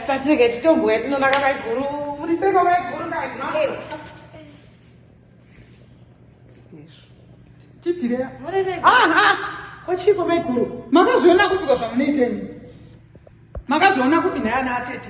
Sasike titombuya tinonaka maiguru muriseko maiguru kochiko maiguru makazviona kupika zvamunoiteni makazviona kupi naye ana atete